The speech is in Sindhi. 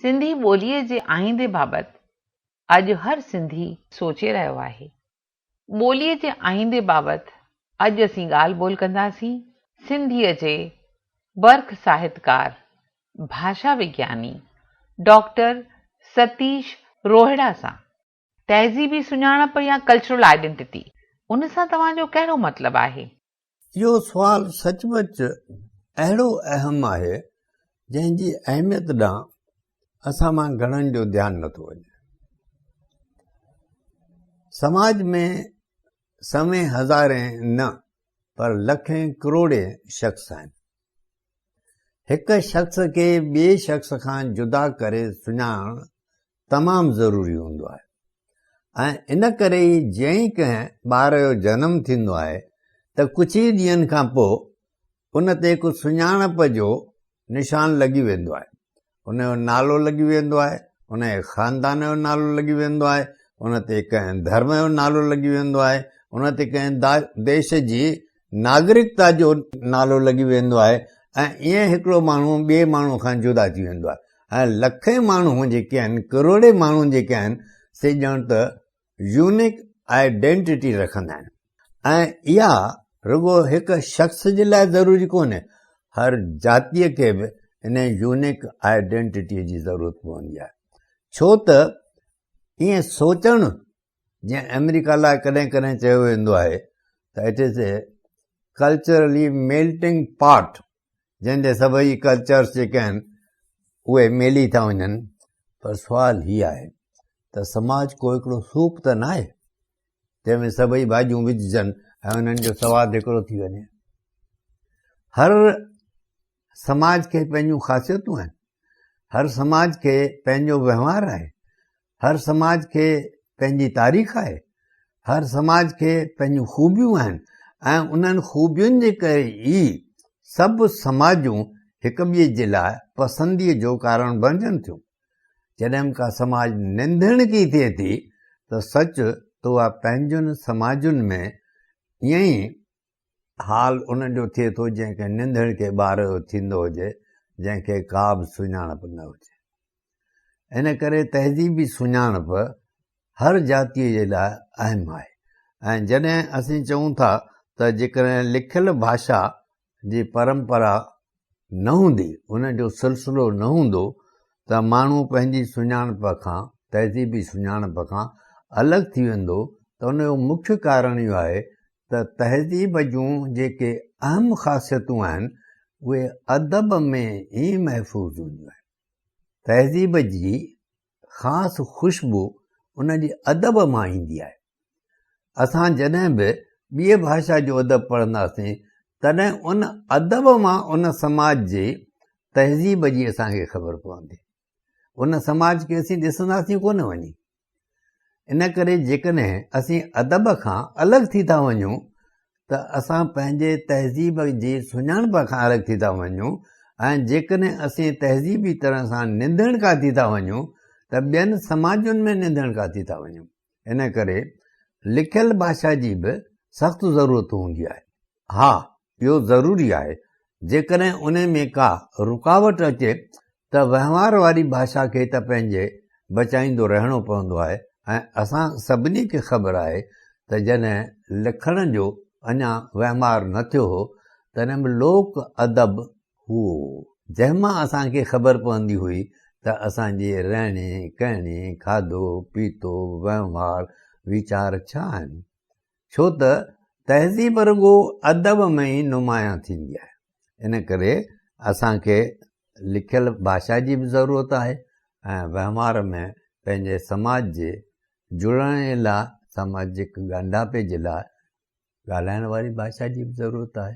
سنڌي ٻوليء جي آئيندي بابت اڄ هر سنڌي سوچي رهيو آهي. ٻوليء جي آئيندي بابت اڄ اسين ڳالهه ٻولهه ڪنداسين سنڌيء جي برک ساهتڪار، ڀاشا وگياني ڊاڪٽر ستيش روهڙا سان. تهذيبي سڃاڻپ يا ڪلچرل آئيڊينٽيٽي، ان سان توهان جو ڪهڙو مطلب آهي؟ اهو سوال سچ پچ اهڙو اهم آهي، جنهن جي اهميت ڏانهن اسان مان گهڻن جو ڌيان نٿو وڃي. سماج ۾ سوين هزارين نه پر لکين ڪروڙين شخص آهن. هڪ شخص کي ٻئي شخص کان جدا ڪري سڃاڻڻ تمام ضروري هوندو آهي ۽ ان ڪري ئي جئين ڪنهن ٻار جو جنم ٿيندو آهي ته ڪجهه ئي ڏينهن کان پوء ان تي هڪ سڃاڻپ جو نشان لڳي ويندو آهي ان جو نالو لڳي ويندو آهي ان جي خاندان جو نالو لڳي ويندو آهي ان تي ڪنهن ڌرم جو نالو لڳي ويندو آهي ان تي ڪنهن ديش جي ناگرڪتا جو نالو لڳي ويندو آهي ۽ ايئن هڪڙو ماڻهو ٻئي ماڻهو کان جدا ٿي ويندو آهي ۽ لکين ماڻهون جيڪي آهن ڪروڙين ماڻهون جيڪي آهن سي ڄڻ ته يونيڪ آئيڊينٽيٽي رکندا آهن ۽ اها رڳو هڪ شخص جي لاء ضروري ڪونهي هر جاتيء کي به ان يونيڪ آئيڊينٽيٽي جي ضرورت پوندي آهي ڇو ته ايئن سوچڻ جيئن آمريڪا لاء ڪڏهن ڪڏهن چيو ويندو آهي ته it is a culturally melting pot جنهن جي سڀئي ڪلچرس جيڪي آهن اهي ميلي ٿا وڃن پر سوال هي آهي ته سماج ڪو هڪڙو سوپ ته نه آهي جنهن ۾ سڀئي ڀاڄيون وجهجن ۽ انهن جو سواد هڪڙو ٿي وڃي هر سماج کي پنهنجون خاصيتون آهن هر سماج کي پنهنجو وهنوار آهي هر سماج کي پنهنجي تاريخ آهي هر سماج کي پنهنجون خوبيون آهن ۽ انهن خوبين جي ڪري ئي سڀ سماجون هڪ ٻئي جي لاء پسندي جو ڪارڻ بڻجن ٿيون جڏهن ڪا سماج نندڻڪي ٿئي ٿي ته سچ تو پنهنجن سماجن ۾ ائين ئي حال ان جو ٿئي ٿو جنهن کي ننڌڻ کي ٻار جو ٿيندو هجي جنهن کي ڪا به سڃاڻپ نه هجي ان ڪري تهذيبي سڃاڻپ هر جاتيء جي لاء اهم آهي ۽ جڏهن اسين چئون ٿا ته جيڪڏهن لکيل ڀاشا جي پرمپرا نه هوندي، ان جو سلسلو نه هوندو ته ماڻهو پنهنجي سڃاڻپ کان، تهذيبي سڃاڻپ کان الڳ ٿي ويندو ته ان جو مکيه ڪارڻ اهو آهي ته تهذيب جون جيڪي اهم خاصيتون آهن اهي ادب ۾ ئي محفوظ هونديون آهن. تهذيب جي خاص خوشبو ان جي ادب مان ايندي آهي. اسان جڏهن به ٻيء ڀاشا جو ادب پڙهنداسين تڏهن ان ادب مان ان سماج جي تهذيب جي اسان کي خبر پوندي. ان سماج کي اسين ڏسنداسين ڪونه وڃي. ان ڪري جيڪڏهن اسين ادب کان الڳ ٿي ٿا وڃون ته اسان پنهنجي تهذيب جي سڃاڻپ کان الڳ ٿي ٿا وڃون ۽ جيڪڏهن اسين تهذيبي طرح سان نندڻڪا ٿي ٿا وڃون ته ٻين سماجن ۾ نندڻڪا ٿي ٿا وڃون ان ڪري لکيل ڀاشا جي به سخت ضرورت هوندي آهي ها اهو ضروري آهي جيڪڏهن ان ۾ ڪا رڪاوٽ اچي ته وهنوار واري ڀاشا کي ته پنهنجي بچائيندو رهڻو پوندو آهي ۽ اسان سڀني کي خبر آهي ته جڏهن لکڻ جو اڃا وهنوار نه ٿيو هو تڏهن به لوڪ ادب هئو جنهن مان اسان کي خبر پوندي هئي ته اسان جي رهڻي ڪهڻي کاڌو پيتو وهنوار ويچار ڇا آهن ڇو ته تهذيب رڳو ادب ۾ ئي نمايان ٿيندي آهي ان ڪري اسان کي لکيل ڀاشا جي به ضرورت آهي ۽ وهنوار ۾ پنهنجي سماج جي جڙڻ جي لاء سماجڪ ڳانڍاپي جي لاء ڳالهائڻ واري ڀاشا جي به ضرورت آهي